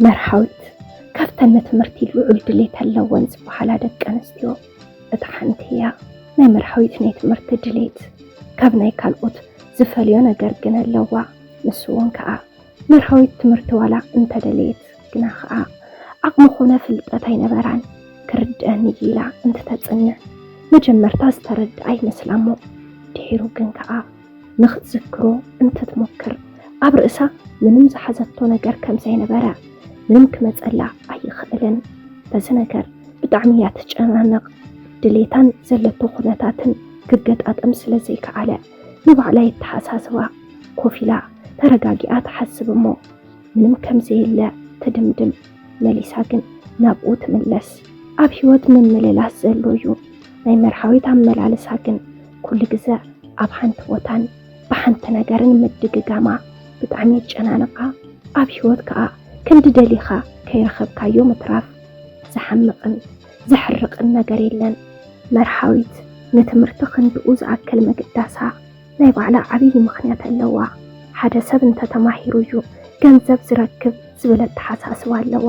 መርሃዊት ካብተን ንትምህርቲ ልዑል ድሌት ኣለወን ዝበሃላ ደቂ ኣንስትዮ እታ ሓንቲ እያ። ናይ መርሃዊት ናይ ትምህርቲ ድሌት ካብ ናይ ካልኦት ዝፈልዮ ነገር ግን ኣለዋ። ንሱ እውን ከኣ መርሃዊት ትምህርቲ ዋላ እንተደለየት ግና ኸኣ ዓቕሚ ኮነ ፍልጠት ኣይነበራን። ክርድኣኒ እዩ ኢላ እንትተጽንዕ መጀመርታ ዝተረድኣ ይመስላ እሞ ድሒሩ ግን ከኣ ንኽትዝክሮ እንትትሞክር ኣብ ርእሳ ምንም ዝሓዘቶ ነገር ከም ዘይነበረ ምንም ክመጸላ ኣይኽእልን። በዚ ነገር ብጣዕሚ እያ ትጨናነቕ። ድሌታን ዘለቶ ኩነታትን ክገጣጠም ስለ ዘይከኣለ ንባዕላ የተሓሳስባ። ኮፍ ኢላ ተረጋጊኣ ትሓስብ እሞ ምንም ከምዘየለ ትድምድም። መሊሳ ግን ናብኡ ትምለስ። ኣብ ህይወት ምምልላስ ዘሎ እዩ። ናይ መርሃዊት ኣመላልሳ ግን ኩሉ ግዘ ኣብ ሓንቲ ቦታን ብሓንቲ ነገርን ምድግጋማ ብጣዕሚ የጨናንቃ። ኣብ ህይወት ከዓ ክንዲ ደሊኻ ከይረኸብካዮ ምትራፍ ዘሓምቕን ዘሕርቕን ነገር የለን። መርሃዊት ንትምህርቲ ክንድኡ ዝኣክል ምግዳሳ ናይ ባዕላ ዓብዪ ምኽንያት ኣለዋ። ሓደ ሰብ እንተ ተማሂሩ እዩ ገንዘብ ዝረክብ ዝብል ኣተሓሳስባ ኣለዋ።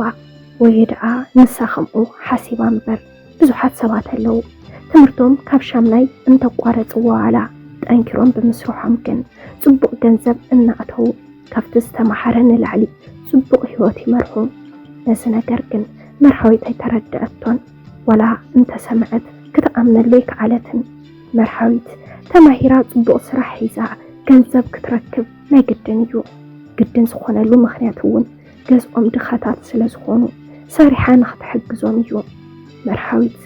ወይ ድኣ ንሳ ከምኡ ሓሲባ እምበር ብዙሓት ሰባት ኣለዉ ትምህርቶም ካብ ሻምናይ እንተቋረጽዎ ዋላ ጠንኪሮም ብምስርሖም ግን ጽቡቕ ገንዘብ እናእተዉ ካብቲ ዝተማሃረ ንላዕሊ ጽቡቕ ህይወት ይመርሑ። ነዚ ነገር ግን መርሃዊት ኣይተረድኣቶን ዋላ እንተሰምዐት ክትኣምነሉ ኣይከኣለትን። መርሃዊት ተማሂራ ፅቡቅ ስራሕ ሒዛ ገንዘብ ክትረክብ ናይ ግድን እዩ። ግድን ዝኾነሉ ምኽንያት እውን ገዝኦም ድኻታት ስለ ዝኾኑ ሰሪሓ ንኽትሕግዞም እዩ። መርሃዊት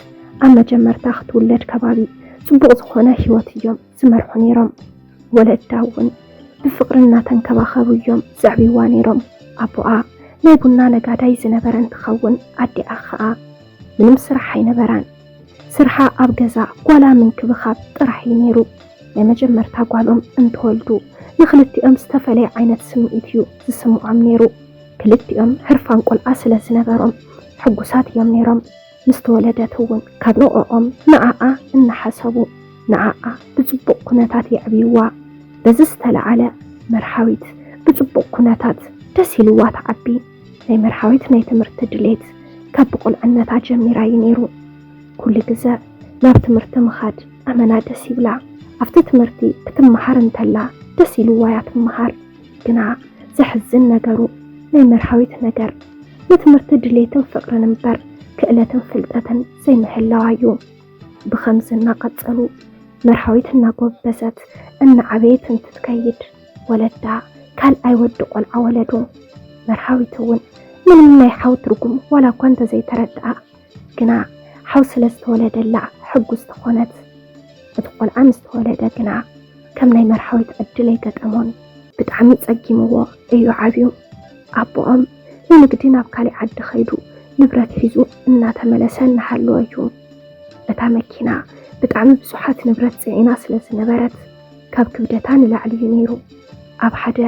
ኣብ መጀመርታ ክትውለድ ከባቢ ፅቡቅ ዝኾነ ህይወት እዮም ዝመርሑ ነይሮም። ወለዳ እውን ብፍቅሪ እናተንከባኸቡ እዮም ዘዕብይዋ ነይሮም። ኣቦኣ ናይ ቡና ነጋዳይ ዝነበረ እንትኸውን ኣዲኣ ኸዓ ምንም ስራሕ ኣይነበራን። ስርሓ ኣብ ገዛ ጓላ ምንክብኻብ ጥራሕ እዩ ነይሩ። ናይ መጀመርታ ጓሎም እንትወልዱ ንኽልቲኦም ዝተፈለየ ዓይነት ስምዒት እዩ ዝስምዖም ነይሩ። ክልቲኦም ህርፋን ቆልዓ ስለ ዝነበሮም ሕጉሳት እዮም ነይሮም። ምስ ተወለደት እውን ካብ ንዕኦም ንዓኣ እናሓሰቡ ንዓኣ ብፅቡቕ ኩነታት የዕብዩዋ። በዚ ዝተልዓለ መርሃዊት ብፅቡቕ ኩነታት ደስ ኢልዋ ትዓቢ። ዘይመርሓዊት ናይ ትምህርቲ ድሌት ካብ ብቁልዕነታ ጀሚራ እዩ ነይሩ። ኩሉ ግዘ ናብ ትምህርቲ ምኻድ ኣመና ደስ ይብላ። ኣብቲ ትምህርቲ ክትመሃር እንተላ ደስ ኢልዋ እያ ትመሃር። ግና ዘሕዝን ነገሩ ናይ መርሃዊት ነገር ንትምህርቲ ድሌትን ፍቅርን እምበር ክእለትን ፍልጠትን ዘይምህላዋ እዩ። ብኸምዚ እናቀፀሉ መርሃዊት እናጎበዘት እናዓበየት እንትትከይድ ወለዳ ካልኣይ ወዲ ቆልዓ ወለዱ። መርሃዊት እውን ምንም ናይ ሓው ትርጉም ዋላ እኳ እንተዘይተረድኣ ግና ሓው ስለ ዝተወለደላ ሕጉስቲ ኮነት። እቲ ቆልዓ ምስ ተወለደ ግና ከም ናይ መርሃዊት ዕድል ኣይገጠሞን። ብጣዕሚ ፀጊምዎ እዩ ዓብዩ። ኣቦኦም ንንግዲ ናብ ካሊእ ዓዲ ከይዱ ንብረት ሒዙ እናተመለሰ እናሃለወ እዩ እታ መኪና ብጣዕሚ ብዙሓት ንብረት ፅዒና ስለ ዝነበረት ካብ ክብደታ ንላዕሊ እዩ ነይሩ። ኣብ ሓደ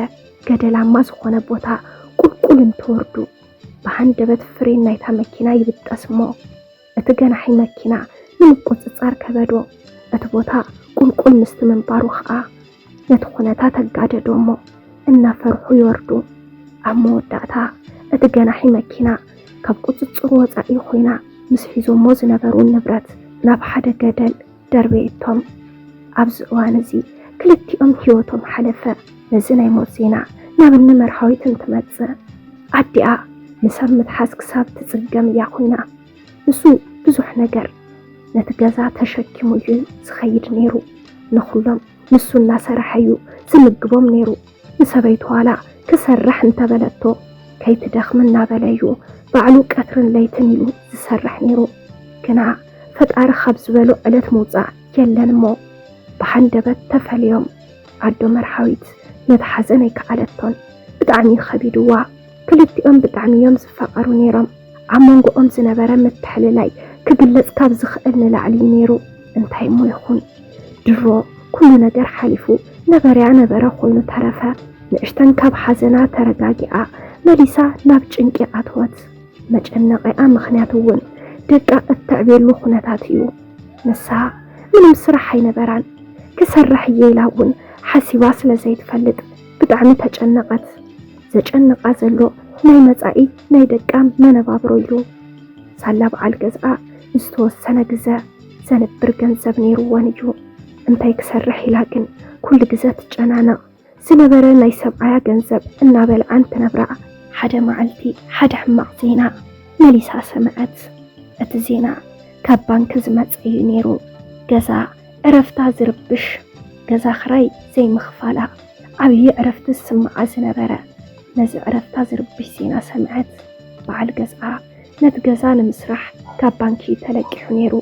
ገደላማ ዝኾነ ቦታ ቁልቁል እንትወርዱ፣ ብሃንደበት ፍሬን ናይታ መኪና ይብጠስ እሞ፣ እቲ ገናሒ መኪና ንምቁጽጻር ከበዶ። እቲ ቦታ ቁልቁል ምስቲ ምንባሩ ከኣ፣ ነቲ ኩነታት ኣጋደዶ እሞ፣ እናፈርሑ ይወርዱ። ኣብ መወዳእታ፣ እቲ ገናሒ መኪና ካብ ቁጽጽሩ ወጻኢ ኮይና፣ ምስ ሒዞሞ ዝነበሩ ንብረት ናብ ሓደ ገደል ደርበየቶም። ኣብዚ እዋን እዚ ክልቲኦም ህይወቶም ሓለፈ። ነዚ ናይ ሞት ዜና ናብ እኒ መርሃዊት እንትመፅእ ኣዲኣ ንሰብ ምትሓዝ ክሳብ ትፅገም እያ ኮይና። ንሱ ብዙሕ ነገር ነቲ ገዛ ተሸኪሙ እዩ ዝኸይድ ነይሩ። ንኹሎም ንሱ እናሰረሐ እዩ ዝምግቦም ነይሩ። ንሰበይቱ ዋላ ክሰርሕ እንተበለቶ ከይትደኽሚ እናበለ እዩ ባዕሉ ቀትርን ለይትን ኢሉ ዝሰርሕ ነይሩ። ግና ፈጣሪ ካብ ዝበሎ ዕለት ምውፃእ የለን እሞ ብሃንደበት ተፈልዮም። ኣዶ መርሃዊት ነቲ ሓዘን ኣይከኣለቶን። ብጣዕሚ እዩ ከቢድዋ። ክልቲኦም ብጣዕሚ እዮም ዝፋቐሩ ነይሮም። ኣብ መንጎኦም ዝነበረ ምትሕልላይ ክግለጽ ካብ ዝኽእል ንላዕሊ እዩ ነይሩ። እንታይ እሞ ይኹን ድሮ ኩሉ ነገር ሓሊፉ ነበረያ ነበረ ኮይኑ ተረፈ። ንእሽተን ካብ ሓዘና ተረጋጊኣ መሊሳ ናብ ጭንቂ ኣተወት። መጨነቒኣ ምኽንያት እውን ደቃ እተዕብየሉ ኩነታት እዩ። ንሳ ምንም ስራሕ ኣይነበራን። ክሰርሕ እየ ኢላ እውን ሓሲባ ስለ ዘይትፈልጥ። ብጣዕሚ ተጨነቐት። ዘጨንቓ ዘሎ ናይ መጻኢ ናይ ደቃ መነባብሮ ኢሉ ሳላ በዓል ገዝኣ ንዝተወሰነ ግዘ ዘንብር ገንዘብ ነይሩወን እዩ። እንታይ ክሰርሕ ኢላ ግን ኩሉ ግዘ ትጨናነቕ። ዝነበረ ናይ ሰብኣያ ገንዘብ እናበልዓን ክነብራ። ሓደ መዓልቲ ሓደ ሕማቕ ዜና መሊሳ ሰምዐት። እቲ ዜና ካብ ባንኪ ዝመጸ እዩ ነይሩ። ገዛ ዕረፍታ ዝርብሽ ገዛ ክራይ ዘይምኽፋላ ዓብዪ ዕረፍቲ ዝስምዓ ዝነበረ። ነዚ ዕረፍታ ዝርብሽ ዜና ሰምዐት በዓል ገዝኣ ነቲ ገዛ ንምስራሕ ካብ ባንኪ ተለቂሑ ነይሩ።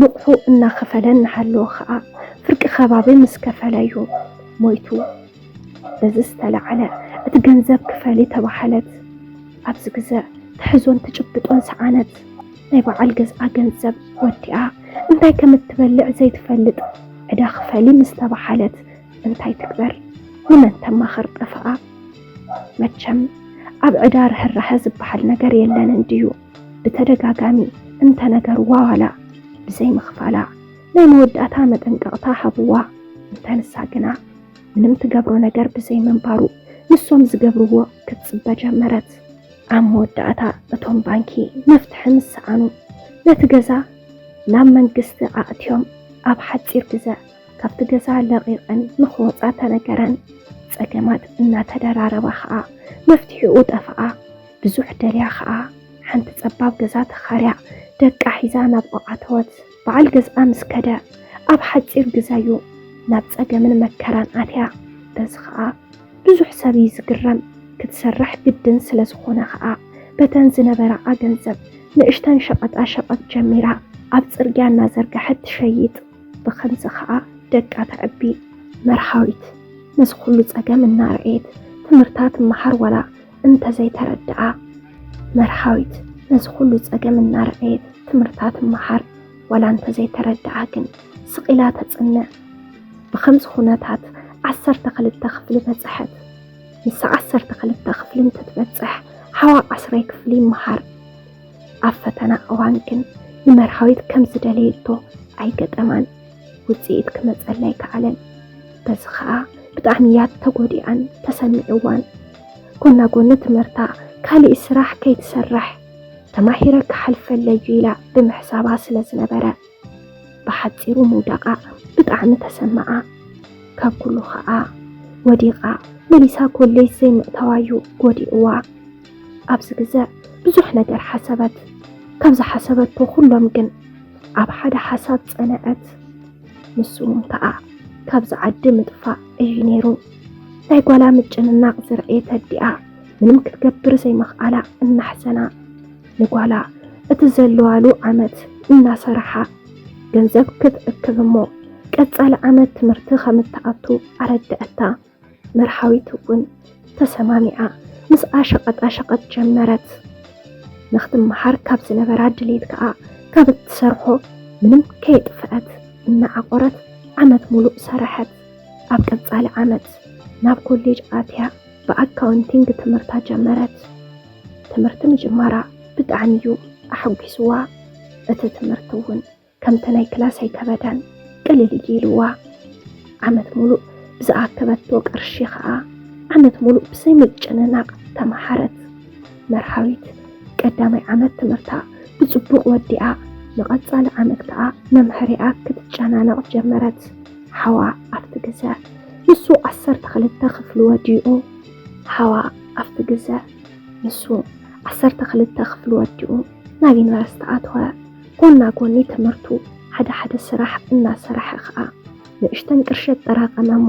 ንቑሑ እናኸፈለ እናሃለወ ኸኣ ፍርቂ ከባቢ ምስ ከፈለ ዩ ሞይቱ። በዚ ዝተላዕለ እቲ ገንዘብ ክፈሊ ተባሃለት። ኣብዚ ግዘ ትሕዞን ትጭብጦን ሰኣነት። ናይ በዓል ገዝኣ ገንዘብ ወዲኣ እንታይ ከም እትበልዕ ዘይትፈልጥ ዕዳ ክፈሊ ምስ ተበሃለት እንታይ ትግበር? ንመን ተማኽር ጠፈኣ? መቸም ኣብ ዕዳ ርህራሀ ዝበሃል ነገር የለን እንድዩ። ብተደጋጋሚ እንተነገርዋ ዋላ ብዘይምኽፋላ ናይ መወዳእታ መጠንቀቕታ ሃብዋ። እንተ ንሳ ግና ምንም ትገብሮ ነገር ብዘይምንባሩ ንሶም ዝገብርዎ ክትጽበ ጀመረት። ኣብ መወዳእታ እቶም ባንኪ መፍትሒ ምስ ሰኣኑ ነቲ ገዛ ናብ መንግስቲ ኣእትዮም ኣብ ሓፂር ግዘ ካብቲ ገዛ ለቒቐን ንክወፃ ተነገረን። ፀገማት እናተደራረባ ከዓ መፍትሒኡ ጠፍኣ። ብዙሕ ደልያ ከዓ ሓንቲ ፀባብ ገዛ ተኻርያ ደቃ ሒዛ ናብኡ ኣተወት። በዓል ገዝኣ ምስ ከደ ኣብ ሓፂር ግዘ ዩ ናብ ፀገምን መከራን ኣትያ። በዚ ከዓ ብዙሕ ሰብ እዩ ዝግረም ክትሰርሕ ግድን ስለዝኾነ ኸኣ በተን ዝነበራኣ ገንዘብ ንእሽተን ሸቐጣ ሸቐጥ ጀሚራ ኣብ ጽርግያ እናዘርገሐት ትሸይጥ ብኸምዚ ኸኣ ደቃ ተዕቢ። መርሃዊት ነዚ ኹሉ ጸገም እናረኣየት ትምህርታ ትመሃር ዋላ እንተዘይተረድኣ። መርሃዊት ነዚ ኹሉ ጸገም እናረኣየት ትምህርታ ትመሃር። ዋላ እንተዘይተረድኣ ግን ስቕ ኢላ ተጽንዕ። ብኸምዚ ኹነታት ዓሰርተ ክልተ ክፍሊ በጽሐት። ንሳ ዓሰርተ ክልተ ክፍሊ እንትትበጽሕ ሓዋ ዓስራይ ክፍሊ ይመሃር። ኣብ ፈተና እዋን ግን ንመርሃዊት ከም ዝደለየቶ ኣይገጠማን። ውጽኢት ክመጸላ ኣይከኣለን። በዚ ኸኣ ብጣዕሚ እያ ተጎዲኣን ተሰሚዕዋን። ጎና ጎኒ ትምህርታ ካልእ ስራሕ ከይትሰርሕ ተማሂረ ክሓልፈለይ ኢላ ብምሕሳባ ስለ ዝነበረ ብሓጺሩ ምውዳቓ ብጣዕሚ ተሰመዓ። ካብ ኩሉ ኸኣ ወዲቓ መሊሳ ኮሌጅ ዘይምእታዋ'ዩ ጎዲእዋ። ኣብዚ ግዘ ብዙሕ ነገር ሓሰበት። ካብ ዝሓሰበቶ ኩሎም ግን ኣብ ሓደ ሓሳብ ጸንዐት። ንሱ እውን ከኣ ካብዚ ዓዲ ምጥፋእ እዩ ነይሩ። ናይ ጓላ ምጭንናቕ ዝረእየት ኣዲኣ ምንም ክትገብር ዘይምኽኣላ እናሕሰና ንጓላ እቲ ዘለዋሉ ዓመት እናሰራሓ ገንዘብ ክትእክብ እሞ ቀፃሊ ዓመት ትምህርቲ ከም እትኣቱ ኣረድኣታ። መርሃዊት እውን ተሰማሚዓ ምስኣ ሸቐጣ ሸቐጥ ጀመረት። ንክትመሃር ካብ ዝነበራ ድሌት ከዓ ካብ እትሰርሖ ምንም ከየጥፍአት እናዓቆረት ዓመት ሙሉእ ሰረሐት። ኣብ ቀፃሊ ዓመት ናብ ኮሌጅ ኣትያ ብኣካውንቲንግ ትምህርታ ጀመረት። ትምህርቲ ምጅማራ ብጣዕሚ እዩ ኣሐጒስዋ፣ እቲ ትምህርቲ እውን ከምቲ ናይ ክላስ ኣይከበዳን፣ ቅልል እዩ ኢልዋ። ዓመት ሙሉእ ብዝኣከበቶ ቅርሺ ከዓ ዓመት ሙሉእ ብዘይ ምጭንናቕ ተምሃረት። መርሃዊት ቀዳማይ ዓመት ትምህርታ ብፅቡቕ ወዲኣ ንቐፃሊ ዓመት ከዓ መምሀሪኣ ክትጨናነቕ ጀመረት። ሓዋ ኣብቲ ግዘ ንሱ ዓሰርተ ክልተ ክፍሊ ወዲኡ ሓዋ ኣብቲ ግዘ ንሱ ዓሰርተ ክልተ ክፍሊ ወዲኡ ናብ ዩኒቨርሲቲ ኣተወ። ጎና ጎኒ ትምህርቱ ሓደ ሓደ ስራሕ እናሰረሐ ከዓ ንእሽተን ቅርሺ ኣጠራቐመ እሞ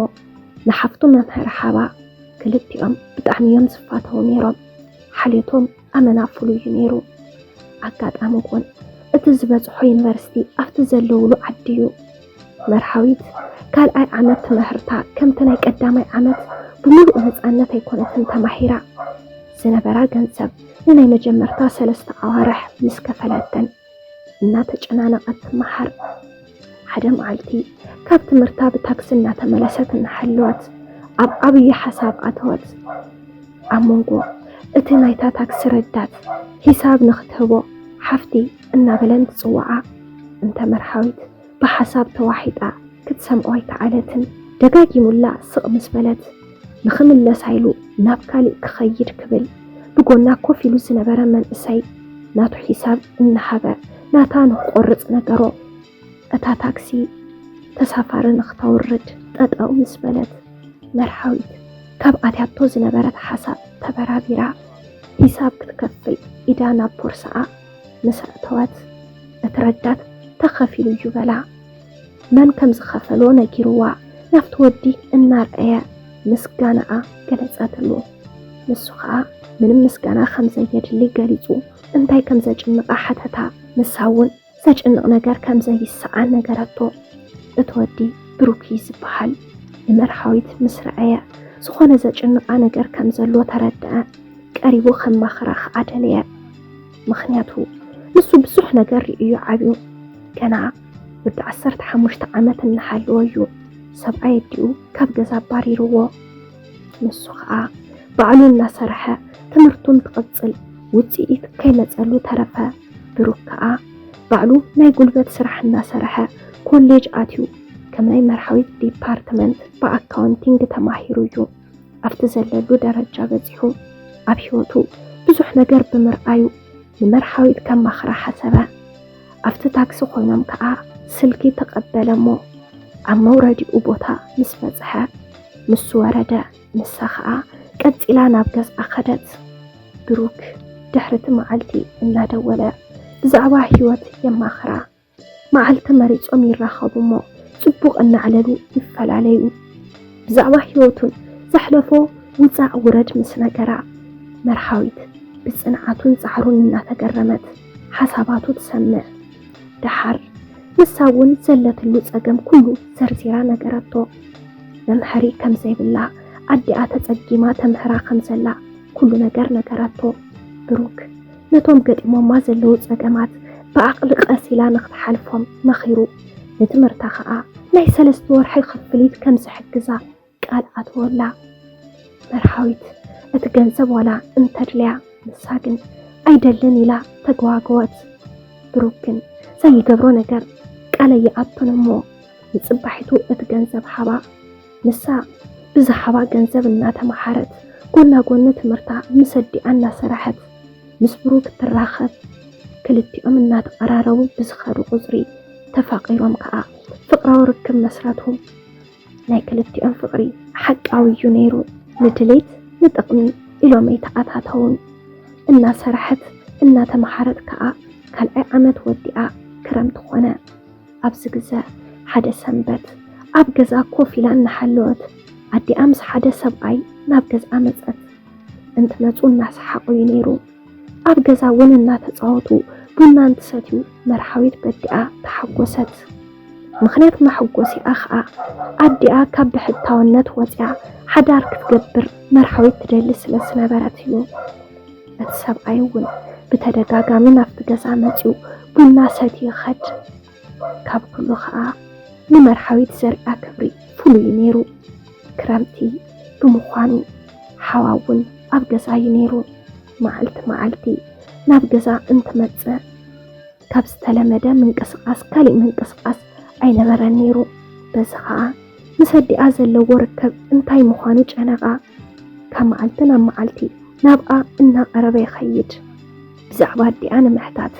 ንሓፍቱ መምህር ሓባ ክልቲኦም ብጣዕሚ እዮም ዝፋተዉ ነይሮም። ሓልዮቶም ኣመና ፍሉይ እዩ ነይሩ። ኣጋጣሚ ኮን እቲ ዝበፅሖ ዩኒቨርሲቲ ኣብቲ ዘለውሉ ዓዲ እዩ። መርሃዊት ካልኣይ ዓመት ትምህርታ ከምቲ ናይ ቀዳማይ ዓመት ብምሉእ ነፃነት ኣይኮነትን ተማሂራ ዝነበራ ገንዘብ ንናይ መጀመርታ ሰለስተ ኣዋርሕ ምስ ከፈለተን እናተጨናነቐት መሓር ሓደ መዓልቲ ካብ ትምህርታ ብታክሲ እናተመለሰት እናሓለወት ኣብ ዓብዪ ሓሳብ ኣተወት። ኣብ መንጎ እቲ ናይታ ታክሲ ረዳት ሂሳብ ንኽትህቦ ሓፍቲ እናበለን ትፅውዓ እንተ መርሃዊት ብሓሳብ ተዋሒጣ ክትሰምዖ ኣይከኣለትን። ደጋጊሙላ ስቕ ምስ በለት፣ ንኽምለሳ ኢሉ ናብ ካሊእ ክኸይድ ክብል፣ ብጎና ኮፍ ኢሉ ዝነበረ መንእሰይ ናቱ ሒሳብ እናሃበ ናታ ንኽቆርጽ ነገሮ። እታ ታክሲ ተሳፋሪ ንኽተውርድ ጠጠው ምስ በለት፣ መርሃዊት ካብ ኣትያቶ ዝነበረት ሓሳብ ተበራቢራ ሒሳብ ክትከፍል ኢዳ ናብ ቦርሳኣ ምስ ኣእተወት እቲ ረዳት ተኸፊሉ እዩ በላ። መን ከም ዝኸፈሎ ነጊርዋ ናብቲ ወዲ እናርኣየ ምስጋናኣ ገለጸትሉ። ንሱ ኸኣ ምንም ምስጋና ከም ዘየድሊ ገሊጹ እንታይ ከም ዘጭንቓ ሓተታ። ንሳ እውን ዘጭንቕ ነገር ከም ዘይሰኣን ነገረቶ። እቲ ወዲ ብሩክ እዩ ዝበሃል። ንመርሃዊት ምስ ረኣየ ዝኾነ ዘጭንቓ ነገር ከም ዘሎ ተረድኣ። ቀሪቡ ከማኽራ ኸኣ ደለየ። ምኽንያቱ ንሱ ብዙሕ ነገር ርእዩ ዓብዩ ገና ወዲ ዓሰርተ ሓሙሽተ ዓመት እናሃለወ እዩ ሰብኣይ ኣዲኡ ካብ ገዛ ኣባሪርዎ ንሱ ከዓ ባዕሉ እናሰርሐ ትምህርቱን ትቕፅል ውፅኢት ከይመፀሉ ተረፈ ብሩክ ከዓ ባዕሉ ናይ ጉልበት ስራሕ እናሰርሐ ኮሌጅ ኣትዩ ከም ናይ መርሃዊት ዲፓርትመንት ብኣካውንቲንግ ተማሂሩ እዩ ኣብቲ ዘለሉ ደረጃ በጺሑ ኣብ ህይወቱ ብዙሕ ነገር ብምርኣዩ ንመርሃዊት ከማኽራ ሓሰበ። ኣብቲ ታክሲ ኮይኖም ከኣ ስልኪ ተቐበለ እሞ ኣብ መውረዲኡ ቦታ ምስ በጽሐ ንሱ ወረደ፣ ንሳ ከኣ ቀጺላ ናብ ገዝኣ ከደት። ብሩክ ድሕሪ እቲ መዓልቲ እናደወለ ብዛዕባ ህይወት የማኽራ። መዓልቲ መሪጾም ይራኸቡ'ሞ ጽቡቕ እናዕለሉ ይፈላለዩ። ብዛዕባ ህይወቱን ዘሕለፎ ውጻእ ውረድ ምስ ነገራ፣ መርሃዊት ብጽንዓቱን ጻዕሩን እናተገረመት ሓሳባቱ ትሰምዕ። ደሓር ንሳ'ውን ዘለትሉ ጸገም ኩሉ ዘርዚራ ነገረቶ። መምሀሪ ከም ዘይብላ፣ ኣዲኣ ተጸጊማ ተምህራ ከም ዘላ ኩሉ ነገር ነገራቶ። ብሩክ። ነቶም ገጢሞማ ዘለዉ ጸገማት ብዓቕሊ ቀስ ኢላ ንኽትሓልፎም መኺሩ። ንትምህርታ ከኣ ናይ ሰለስተ ወርሒ ክፍሊት ከም ዝሕግዛ ቃል ኣተወላ። መርሃዊት እቲ ገንዘብ ዋላ እንተድልያ ንሳ ግን ኣይደልን ኢላ ተገዋገወት። ብሩክ ግን ዘይገብሮ ነገር ቃለይ ይኣቶን እሞ ንጽባሒቱ እቲ ገንዘብ ሃባ። ንሳ ብዝሃባ ገንዘብ እናተመሃረት ጎና ጎኒ ትምህርታ ምስ ኣዲኣ እናሰራሐት ምስ ብሩክ ትራኸብ። ክልቲኦም እናተቐራረቡ ብዝኸዱ ቁፅሪ ተፋቒሮም ከዓ ፍቕራዊ ርክብ መስረቱ። ናይ ክልቲኦም ፍቕሪ ሓቃዊ እዩ ነይሩ። ንድሌት ንጥቕሚ ኢሎም ኣይተኣታተውን። እናሰራሐት እናተመሃረት ከዓ ካልኣይ ዓመት ወዲኣ ክረምቲ ኾነ። ኣብዚ ግዘ ሓደ ሰንበት ኣብ ገዝኣ ኮፍ ኢላ እናሓለወት ኣዲኣ ምስ ሓደ ሰብኣይ ናብ ገዝኣ መፀት። እንትመፁ እናሰሓቑ እዩ ነይሩ። ኣብ ገዛ እውን እናተፃወቱ ቡና እንትሰትዩ መርሃዊት በዲኣ ተሓጎሰት። ምኽንያት መሐጎሲኣ ከዓ ኣዲኣ ካብ ብሕታውነት ወፂኣ ሓዳር ክትገብር መርሃዊት ትደሊ ስለ ዝነበረት እዩ። እቲ ሰብኣይ እውን ብተደጋጋሚ ናብቲ ገዛ መጺኡ ቡና ሰትዩ ይኸድ። ካብ ኩሉ ከኣ ንመርሃዊት ዘሪኣ ክብሪ ፍሉይ እዩ ነይሩ። ክረምቲ ብምዃኑ ሓዋ እውን ኣብ ገዛ እዩ ነይሩ። መዓልቲ መዓልቲ ናብ ገዛ እንትመጽእ ካብ ዝተለመደ ምንቅስቓስ ካሊእ ምንቅስቓስ ኣይነበረን ነይሩ። በዚ ከኣ ምስ ኣዲኣ ዘለዎ ርከብ እንታይ ምዃኑ ጨነቓ። ካብ መዓልቲ ናብ መዓልቲ ናብኣ እናቐረበ ይኸይድ። ብዛዕባ ኣዲኣ ንምሕታት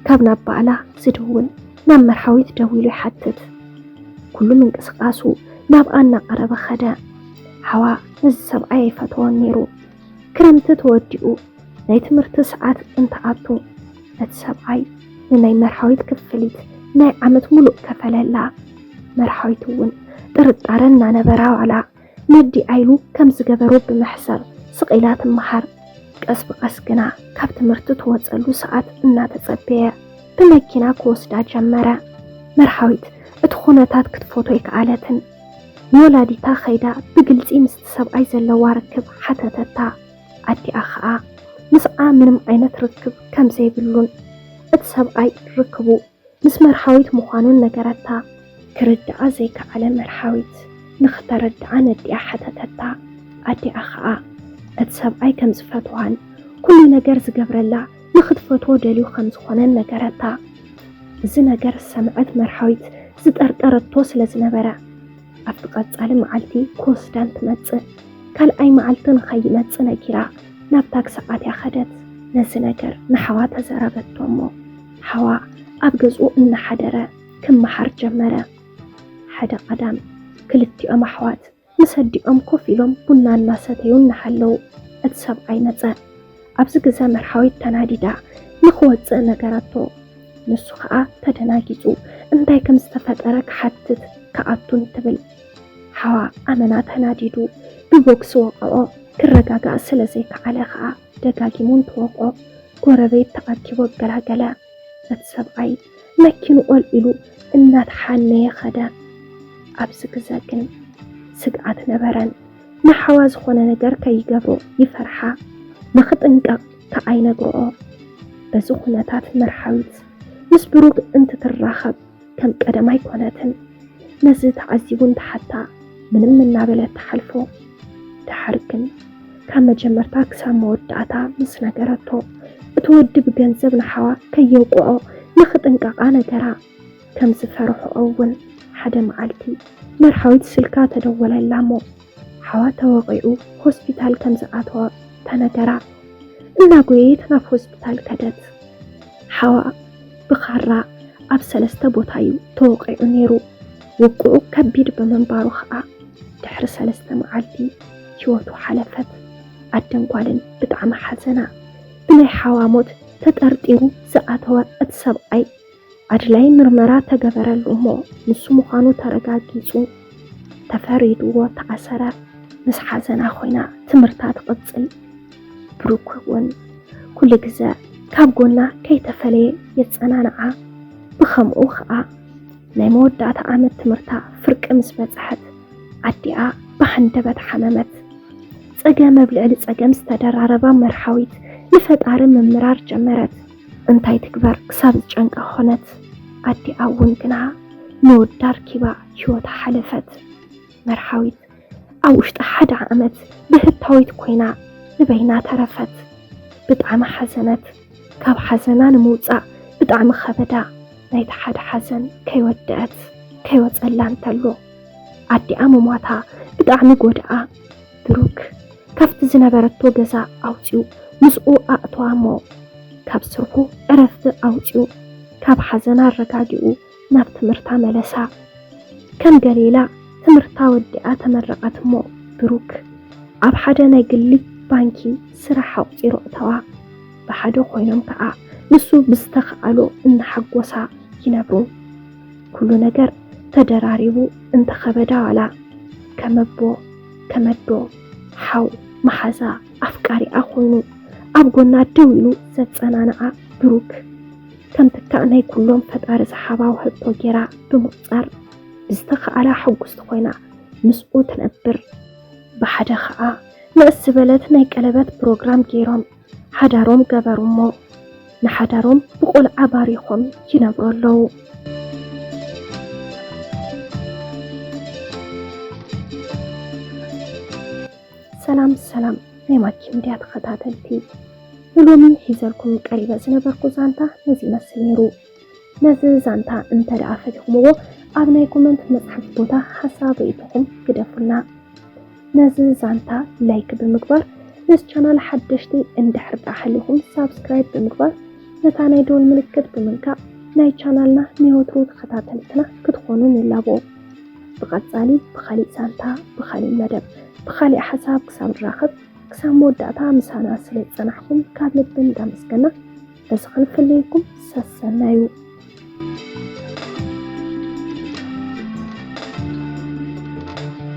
ካብ ናብ ባዕላ ዝድውል ናብ መርሃዊት ደዊሉ ይሓትት። ኩሉ ምንቅስቓሱ ናብኣ እናቐረበ ከደ። ሓዋ ነዚ ሰብኣይ ኣይፈተዎን ነይሩ። ክረምቲ ተወዲኡ። ናይ ትምህርቲ ሰዓት እንትኣቱ እቲ ሰብኣይ ንናይ መርሃዊት ክፍሊት ናይ ዓመት ሙሉእ ከፈለላ። መርሃዊት እውን ጥርጣረ እናነበራ ዋላ ነዲኣ ኢሉ ከም ዝገበሮ ብምሕሳብ ስቕ ኢላ ትመሃር። ቀስ ብቐስ ግና ካብ ትምህርቲ ትወፀሉ ሰዓት እናተፀበየ ብመኪና ክወስዳ ጀመረ። መርሃዊት እቲ ኹነታት ክትፎቶ ኣይከኣለትን። ንወላዲታ ከይዳ ብግልፂ ምስቲ ሰብኣይ ዘለዋ ርክብ ሓተተታ። ኣዲኣ ኸኣ ምስኣ ምንም ዓይነት ርክብ ከም ዘይብሉን እቲ ሰብኣይ ርክቡ ምስ መርሃዊት ምዃኑን ነገረታ። ክርድኣ ዘይከኣለ መርሃዊት ንኽተረድኣ ነዲኣ ሓተተታ። ኣዲኣ ኸኣ እቲ ሰብኣይ ከም ዝፈትዋን ኩሉ ነገር ዝገብረላ ንኽትፈትዎ ደልዩ ከም ዝኾነን ነገረታ። እዚ ነገር ዝሰምዐት መርሃዊት ዝጠርጠረቶ ስለ ዝነበረ። ኣብቲ ቀጻሊ መዓልቲ ክወስዳን ትመጽእ ካልኣይ መዓልቲ ንኸይመጽእ ነጊራ ናብ ታክሲ ኣትያ ኸደት። ነዚ ነገር ንሓዋ ተዘረበቶ እሞ ሓዋ ኣብ ገዝኡ እናሓደረ ክመሓር ጀመረ። ሓደ ቀዳም ክልቲኦም ኣሕዋት ምስ ኣዲኦም ኮፍ ኢሎም ቡና እናሰተዩ እናሃለዉ እቲ ሰብኣይ መጸ። ኣብዚ ግዘ መርሃዊት ተናዲዳ ንክወፅእ ነገረቶ። ንሱ ከዓ ተደናጊፁ እንታይ ከም ዝተፈጠረ ክሓትት ክኣቱ እንትብል ሓዋ ኣመና ተናዲዱ ብቦክሲ ወቐዖ። ክረጋጋእ ስለ ዘይከኣለ ከዓ ደጋጊሙ እንትወቕዖ ጎረቤት ተኣኪቡ ኣገላገለ። እቲ ሰብኣይ መኪንኡ ኣልዒሉ እናተሓነየ ከደ። ኣብዚ ግዘ ግን ስግኣት ነበረን። ንሓዋ ዝኾነ ነገር ከይገብሩ ይፈርሓ፣ ንኽጥንቀቕ ከኣ ይነግርኦ። በዚ ኩነታት መርሃዊት ምስ ብሩክ እንትትራኸብ ከም ቀደም ኣይኮነትን። ነዚ ተዓዚቡ እንትሓታ ምንም እናበለት ትሓልፎ። ደሓር ግን ካብ መጀመርታ ክሳብ መወዳእታ ምስ ነገረቶ እቲ ወዲ ብገንዘብ ንሓዋ ከየውቅዖ ንኽጥንቀቓ ነገራ። ከም ዝፈርሕኦ እውን ሓደ መዓልቲ መርሓዊት ስልካ ተደወለላ እሞ ሓዋ ተወቒዑ ሆስፒታል ከም ዝኣተወ ተነገራ። እናጎየየት ናብ ሆስፒታል ከደት። ሓዋ ብኻራ ኣብ ሰለስተ ቦታ እዩ ተወቒዑ ነይሩ። ውግኡ ከቢድ ብምንባሩ ኸዓ ድሕሪ ሰለስተ መዓልቲ ህይወቱ ሓለፈት። ኣደን ጓልን ብጣዕሚ ሓዘና። ብናይ ሓዋ ሞት ተጠርጢሩ ዝኣተወ እቲ ሰብኣይ ኣድላይ ምርመራ ተገበረሉ እሞ ንሱ ምዃኑ ተረጋጊጹ ተፈሪድዎ ተኣሰረ። ምስ ሓዘና ኮይና ትምህርታ ትቕጽል። ብሩክ እውን ኩሉ ግዘ ካብ ጎና ከይተፈለየ የጸናንዓ። ብኸምኡ ከኣ ናይ መወዳእታ ዓመት ትምህርታ ፍርቂ ምስ በጽሐት ኣዲኣ ብሃንደበት ሓመመት። ጸገም ኣብ ልዕሊ ጸገም ዝተደራረባ መርሃዊት ንፈጣሪ ምምራር ጀመረት። እንታይ ትግበር ክሳብ ዝጨንቃ ኾነት ኣዲኣ እውን ግና ንወዳ ኣርኪባ ህይወታ ሓለፈት። መርሃዊት ኣብ ውሽጢ ሓደ ዓመት ብህታዊት ኮይና ንበይና ተረፈት። ብጣዕሚ ሓዘነት ካብ ሓዘና ንምውፃእ ብጣዕሚ ኸበዳ ናይቲ ሓደ ሓዘን ከይወደኣት ከይወፀላ እንተሎ ኣዲኣ ምሟታ ብጣዕሚ ጎደኣ። ብሩክ ካብቲ ዝነበረቶ ገዛ ኣውፂኡ ምስኡ ኣእተዋ እሞ ካብ ስርሑ ዕረፍቲ ኣውፂኡ ካብ ሓዘና ኣረጋጊኡ ናብ ትምህርታ መለሳ። ከም ገሌላ ትምህርታ ወዲኣ ተመረቀት እሞ ብሩክ ኣብ ሓደ ናይ ግሊ ባንኪ ስራሕ ኣቁፂሩ ኣእተዋ። ብሓደ ኮይኖም ከዓ ንሱ ብዝተከኣሎ እናሓጎሳ ይነብሩ። ኩሉ ነገር ተደራሪቡ እንተከበዳ ዋላ ከም ኣቦ፣ ተመዶ ሓው መሓዛ ኣፍቃሪኣ ኮይኑ ኣብ ጎና ደው ኢሉ ዘጸናንዓ ብሩክ ከም ትካእ ናይ ኩሎም ፈጣሪ ዝሓባ ውህብቶ ጌራ ብምቁጻር ብዝተኻእላ ሕጉስቲ ኮይና ምስኡ ትነብር። ብሓደ ከኣ ንእስ ዝበለት ናይ ቀለበት ፕሮግራም ጌሮም። ሓዳሮም ገበሩ እሞ ንሓዳሮም ብቆልዓ ባሪኾም ይነብሩ ኣለዉ። ሰላም ሰላም ናይ ማኪ ሚድያ ተኸታተልቲ ንሎሚ ሒዘልኩም ቀሪበ ዝነበርኩ ዛንታ ነዚ ይመስል ነይሩ። ነዚ ዛንታ እንተደኣ ፈቲኹምዎ ኣብ ናይ ኮመንት መጽሓፍ ቦታ ሓሳብ ርእይቶኹም ግደፉልና። ነዚ ዛንታ ላይክ ብምግባር ነዚ ቻናል ሓደሽቲ እንድሕር ደኣ ሃሊኹም ሳብስክራይብ ብምግባር ነታ ናይ ደወል ምልክት ብምንካእ ናይ ቻናልና ናይ ወትሩ ተኸታተልትና ክትኾኑ ንላቦ። ብቐጻሊ ብኻሊእ ዛንታ ብኻሊእ መደብ ብኻሊእ ሓሳብ ክሳብ ንራኸብ ክሳብ መወዳእታ ምሳና ስለ ዝጸናሕኩም ካብ ልቢ እንዳመስገና እዚ ክንፍለየኩም ሰሰናዩ